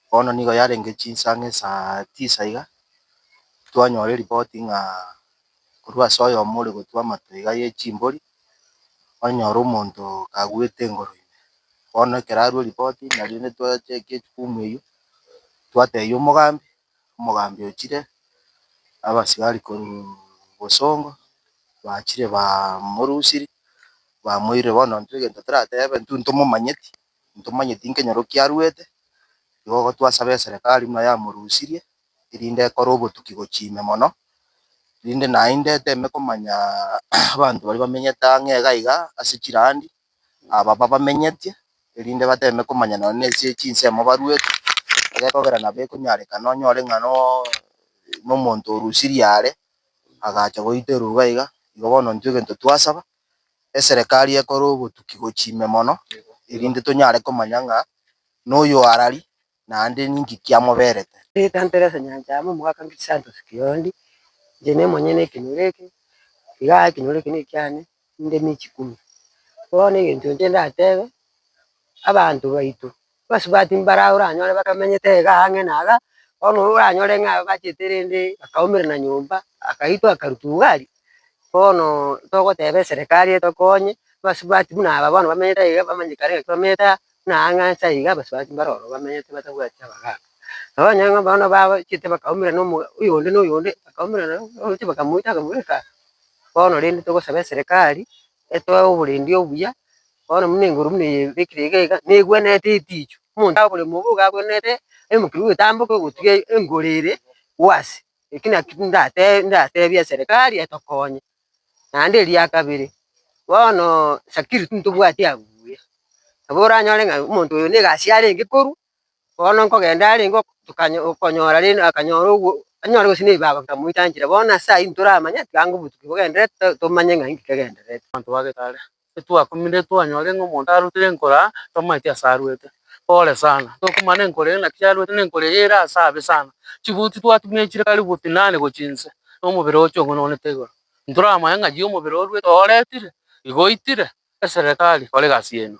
Bono nigo yarenge chinsa ng'a esa tisa iga, twanyora eripoti ng'a korwa ase oyomo ore gotwa amato iga ye chimbori, onyore omonto kaguete engoro ime. Bono ekero arwa eripoti nario rende twachake echukumu eywo, twatebia omogambi, omogambi ochire, abasigari korwa bosongo, bachire bamorusiri, bamoirire bono intwe egento toratebe, intwe ntomomanyeti, ntomanyeti nkenyoro kiaruete, igo gotwasaba eserekari buna yamorusirie, erinde ekore obotuki gochia ime mono, rinde naende eteme komanya abanto baria bamenyete ang'e iga iga ase chirandi, aba babamenyetie, erinde bateme komanya nonye na ase chinsemo baruete, egekogera nabo ekonyarekana onyore ng'a nooo nomonto orusirie are, agacha goiterwa iga iga, igo bono intwe egento twasaba. eserekari ekore obotuki gochia ime mono, erinde tonyare komanya ng'a noyo arari, naende ninki kiamoberete. Ndetantere ase enyancha amo omogaka Crisantos Kiondi, inche nemonyene ekenyoro eke, iga ekenyoro eke nekiane, ninde michi kumi. Bono egento inche ndatebe, abanto baito Abasubati mbaraao oranyore bakamenyete iga ang'e na iga, bono oranyore ng'a bachete rende bakaumerana nyomba, akaitwa akarutwa ugari. Bono togoteba eserekari etokonye, abasubati buna aba bono bamenyete aiga bamanye kare ng'a kilometa aa, buna aa ng'a nsa iga abasubati mbare ororo bamenyete batabwati abagaka. Nabo onye ng'a bono bachete bakaumerana omo oyonde na oyonde, bakaumerana oroche bakamoita bakamoireka, bono rende togosaba eserekari etoe oborendi obuya, bono buna engoro buna eye ebekire iga iga, negwenerete etichu, omonto agokora omobe iga agwenerete emokero ogotamboka ogotiga engoro ere gwasi. Eki naki ndatebe ndatebie eserekari etokonye. Naende eria kabere, bono security ntobwati abuya, nabo oranyore ng'a omonto oyo na egasi arenge korwa, Bono nkogenda are ingo tokanya okonyora rende akanyora ogwo anyore gose na ebibago bikamoitanchire. Bono ase ayio ntoramanye atiga ng'a obotuko bogendererete to tomanye ng'a inki kegendererete. Abanto ba Getare. Etwakumire twanyore ng'a omonto arutire enkora twamaete ase arwete. Pole sana. Tokumana na enkora eye naki yarwete na enkora eye ere ase abe sana. Chibuti twatumechire karibu oti inane gochia inse na omobere oche ong'ununete igoro. Ntoramanye ng'a yi omobere orwete oretire, igo oitire, Eserekari, kora egasi yaino.